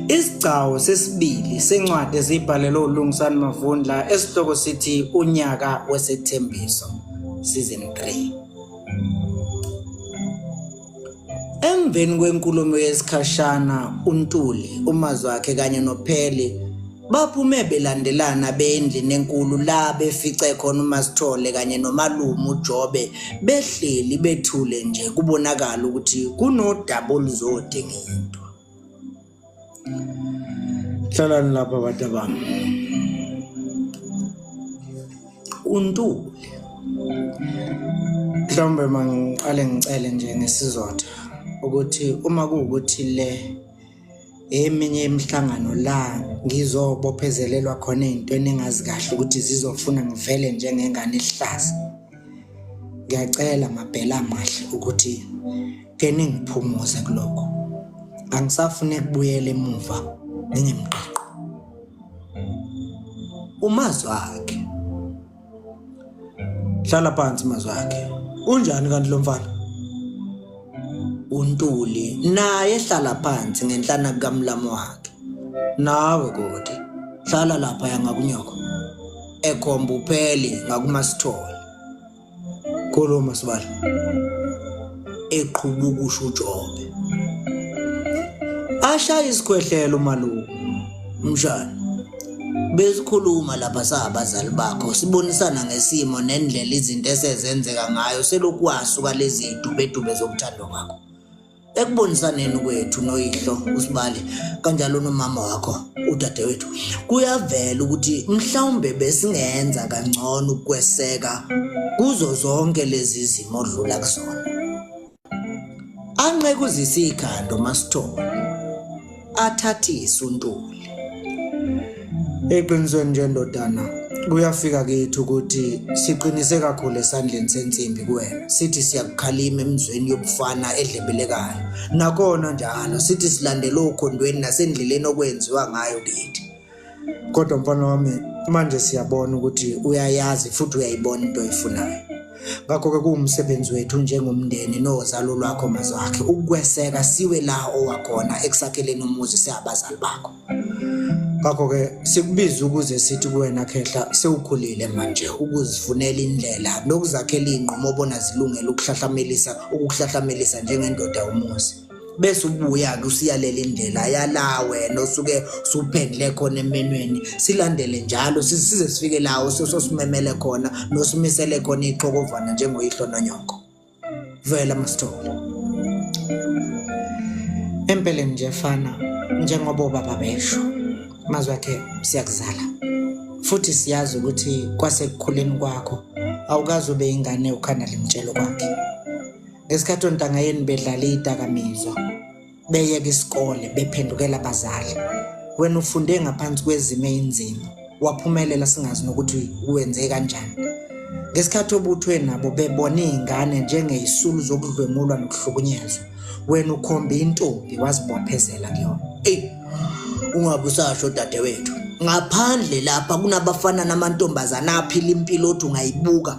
Isigcawu sesibili sencwadi ezibhalelwe uLungisani Mavundla esihloko sithi Unyaka Wesethembiso season 3. Emveni kwenkulumo yesikhashana uNtuli, umazi wakhe kanye noPheli Baphume belandelana beyendlini enkulu la befice khona uMasithole kanye nomalume uJobe behleli bethule nje kubonakala ukuthi kunodaba oluzode ngento. Hlalani lapha abantu abami. Untule. Mhlawumbe mangiqale ngicele nje ngesizotha ukuthi uma kuwukuthi le eminye imihlangano la ngizobophezelelwa khona izinto eningazi kahle ukuthi zizofuna ngivele njengengane ihlaza ngiyacela mabhela amahle ukuthi ke ningiphumuze kuloko angisafune kubuyela emuva ngingemqaqo umazwakhe hlala phansi mazwakhe unjani kanti lo mfana untuli naye hlala phansi ngenhlana kukamlamu wakhe nawe kodwa hlala lapha yangakunyoko ekhomba upheli ngakumasithole khuluma sibala eqhuba ukusho uJobe. Ashaya isikhwehlelo umalume. Mshana. Besikhuluma lapha sabazali bakho sibonisana ngesimo nendlela izinto esezenzeka ngayo selokhu wasuka lezi dubedube zokuthando kwakho. Ekubonisaneni kwethu noyihlo usibali kanjalo nomama wakho udadewethu kuyavela ukuthi mhlawumbe besingenza kangcono ukweseka kuzo zonke lezi zimo odlula kuzona anqeke uzise ikhanda umasithole athathise untuli eqinisweni nje ndodana kuyafika kithi ukuthi siqinise kakhulu esandleni sensimbi kuwena sithi siyakukhalima emizweni yobufana edlebelekayo Nakona njalo sithi silandela okhondweni nasendleleni okwenziwa ngayo kithi. Kodwa mfana wami manje siyabona ukuthi uyayazi futhi uyayibona into oyifunayo. Ngakho ke kuwumsebenzi wethu njengomndeni nozalo lwakho mazakhe ukweseka siwe la owakhona ekusakheleni umuzi siyabazali bakho. ngakho ke sikubiza ukuze sithi kuwena khehla sewukhulile manje ukuzifunela indlela nokuzakhela ingqomo obona zilungele ukuhlahlamelisa ukuhlahlamelisa njengendoda umuzi bese ubuya ke usiyalela indlela yala wena osuke suphendle khona emenweni silandele njalo size sifike lawo sosimemele khona nosimisele khona ixhokovana njengoyihlo nonyoko vela masithole empeleni nje fana njengoba ubaba besho mazwi akhe siyakuzala futhi siyazi ukuthi kwasekukhuleni kwakho awukazi ube ingane ukhanda limtshelo kwakhe ngesikhathi ontangayeni bedlala iyidakamizwa beyeka isikole bephendukela abazali wena ufunde ngaphansi kwezimo eyinzima waphumelela singazi nokuthi wenze kanjani ngesikhathi obuthwe nabo bebona iy'ngane njengeyisulu zokudlwengulwa nokuhlukunyezwa wena ukhombe intombi wazibophezela kuyona eyi ungabe usasho dadewethu ngaphandle lapha kunabafana namantombazana aphila impilo othi ungayibuka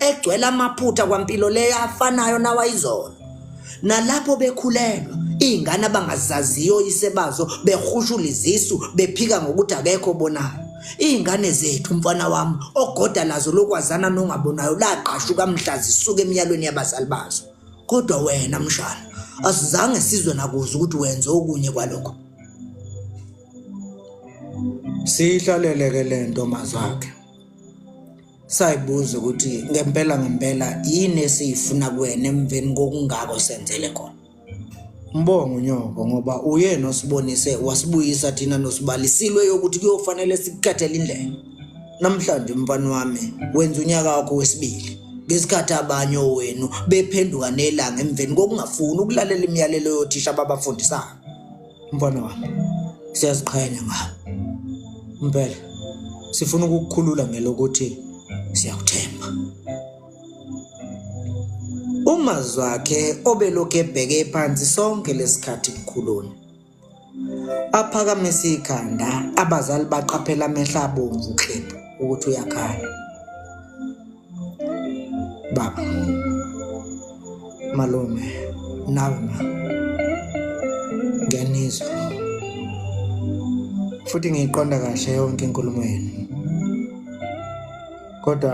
egcwele amaphutha kwampilo leyo afanayo nawayizolo nalapho bekhulelwa iy'ngane abangazaziyo oyise bazo behushula izisu bephika ngokuthi akekho obonayo iy'ngane zethu mfana wami ogoda lazo lokwazana nongabonayo laqashuka mhla zisuka emiyalweni yabazali bazo kodwa wena mshana asizange sizwe nakuze ukuthi wenze okunye kwalokho siyihlaleleke le nto mazakhe Sayibuza ukuthi ngempela ngempela yini esiyifuna kuwena emveni kokungako senzele khona. Mbongo nyoko ngoba uyena osibonise wasibuyisa thina nosibalisilwe yokuthi kuyofanele sikukhethele indlela. Namhlanje mfana wami wenza unyaka wakho wesibili ngesikhathi abanye owenu bephenduka nelanga emveni kokungafuni ukulalela imiyalelo yothisha ababafundisayo. Mfana wami, siyaziqhenya ngawe. Impela sifuna ukukukhulula ngelokuthi siyakuthemba. Umazwi wakhe obelokhu ebheke phansi sonke lesikhathi kukhuluna. Aphakamise ikhanda, abazali baqaphela amehla abomvu klebhu ukuthi uyakhala. baba malume nawe ma ngiyanizwa futhi ngiyiqonda kahle yonke inkulumo yenu kodwa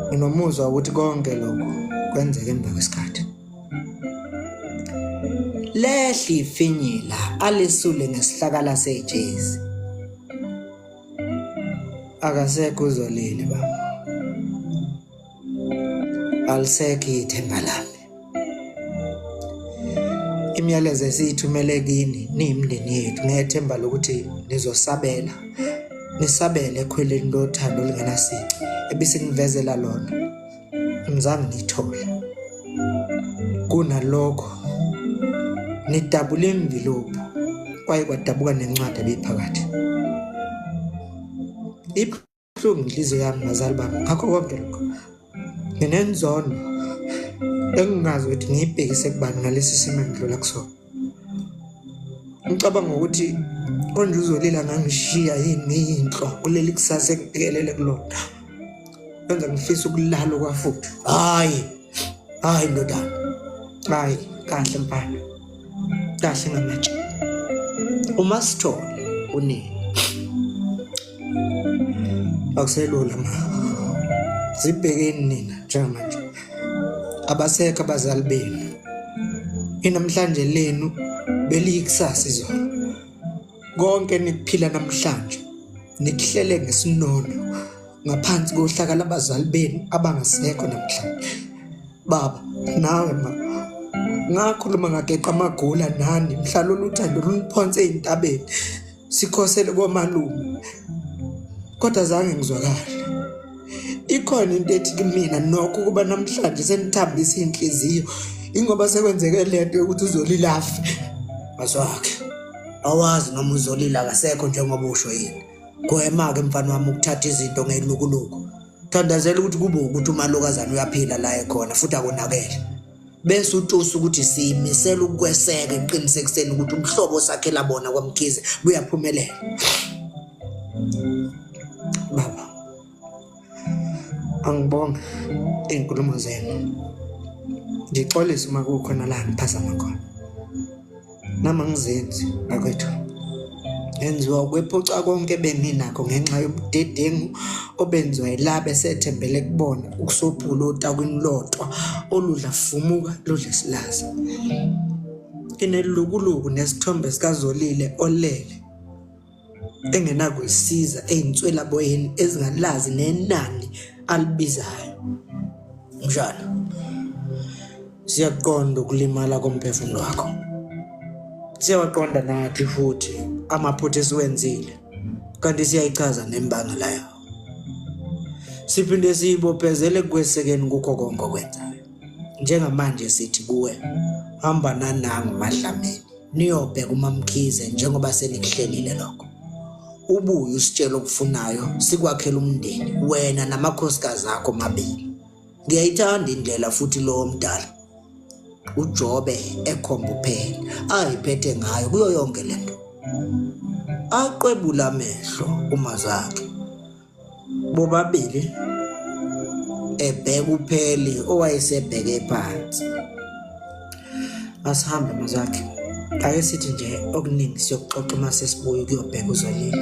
nginomuzwa ukuthi konke lokho kwenzeke emva kwesikhathi lehli ifinyila alisule ngesihlakala sejezi akasekho uzolile baba alisekho ithemba lami imiyalezo esiyithumele kini niyimndeni yethu ngethemba lokuthi nizosabela nisabele ekhweleni lothando olungenasici ebisinivezela lona ngizange ngiyithole kunalokho ngidabule imvilophu kwaye kwadabuka nencwadi ebiphakathi ibuhlungu inhliziyo yami bazali bami ngakho konke lokho nginenzondo engingazi ukuthi ngiyibhekise kubani ngalesi simo engidlula kusona ngicabanga ukuthi konje uzolila ngangishiya yini inhlo kuleli kusasa ekubhekelele kulona kwenza ngifisa ukulala kwafuthi hayi hayi ndodana hayi kahle mfana kahle ngamatshe uma sithole unini akuselula ma zibhekeni nina njengamanje abasekho abazali benu inamhlanje lenu beliyikusasa izolo konke nikuphila namhlanje nikuhlele ngesinono ngaphansi kohlaka labazali benu abangasekho namhlanje baba nawe ma ngakhuluma ngageqa amagula nani mhla lolu thando luniphonse ezintabeni sikhosele komalume kodwa zange ngizwakale ikhona into ethi kimina nokho ukuba namhlanje senithambisa inhliziyo ingoba sekwenzeke lento yokuthi uzolilafe maswakhe awazi noma uzolila kasekho njengoba usho yini gwema ke mfana wami ukuthatha izinto ngelukuluku thandazela ukuthi kube ukuthi umalokazana uyaphila la ekhona futhi akonakele bese utusa ukuthi siyimisela ukukweseka ekuqinisekiseni ukuthi umhlobo osakhela bona kwamkhize buyaphumelela baba angibonge iy'nkulumo zenu ngixolise uma kukhona la ngiphazama khona Nama ngizenzi bakwethu enziwa ukwephuca konke beninakho ngenxa yobudedengu obenziwa yilabe sethembele kubona ukusophula otakwini lodwa oludla fumuka ludle silaza inelukuluku nesithombe sikazolile olele engenakuyisiza eyinswelaboyeni ezingalazi nenani alibizayo njalo siyaqonda ukulimala komphefumulo wakho siyawaqonda nathi futhi amaphutha esiwenzile kanti siyayichaza nembangela yawo siphinde siyibophezele kwesekeni kukho konke okwenzayo njengamanje sithi kuwe hamba nanangu madlameni niyobheka umamkhize njengoba senikuhlelile lokho ubuye usitshela okufunayo sikwakhela umndeni wena namakhosikazi akho mabili ngiyayithanda indlela futhi lowo mdala uJobe ekhomba uphela ayiphethe ngayo kuyo yonke lento aqwebula amehlo uma zakhe bobabili ebheka upheli owayesebheke phansi asihambe mazakhe ake sithi nje okuningi siyokuxoxa uma sesibuye kuyobheka uzolile